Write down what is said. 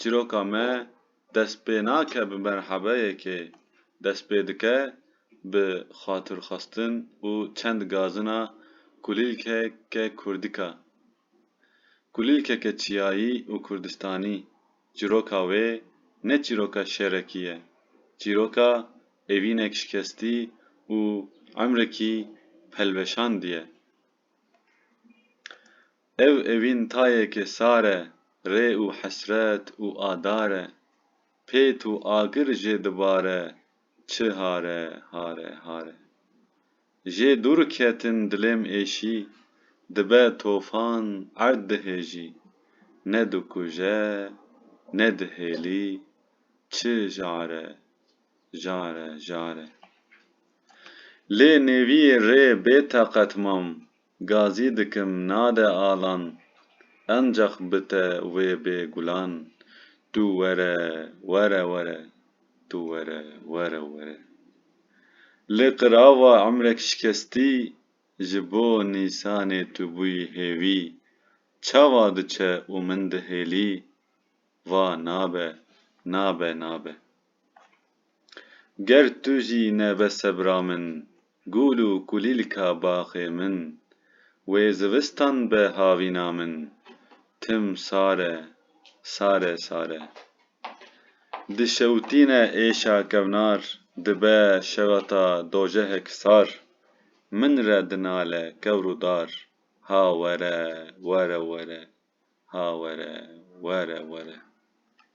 çîroka me dest pê nake bi merhebeyekê, dest pê dike bi xatirxwestin û çend gazina kulîlkeke kurdika. Kulîlkeke çiyayî û kurdistanî, çîroka wê ne çîroka şerekî ye, çîroka evînek şikestî û emrekî pelveşandî ye. Ev evîn tayeke sar e, rê û hesret û adar e, pêt û agir jê dibare çi hare, hare, hare. Jê dûr ketin dilêm êşî, dibe tofan erd dihêjî, ne dikuje, ne dihêlî, çi jare, jare, jare. Lê nêviyê rê bêteqet mam, Gazî dikim nade alan. Encax bite wê bê gulan. Tu were were were Tu were were were Li qirava emrek şikestî Ji bo nîsanê tu bûyî hêvî Çawa diçe û min dihêlî Va nabe nabe nabe. Ger tu jî nebe sebra min. Gûl û kulîlka baxê min. Wê zivistan be havîna min. Tim sar e, sar e, sar e. Dişewtîne êşa kevnar. Dibe şewata dojehek sar. Min re dinale kewr û dar. Ha were, were, were. Ha were, were, were.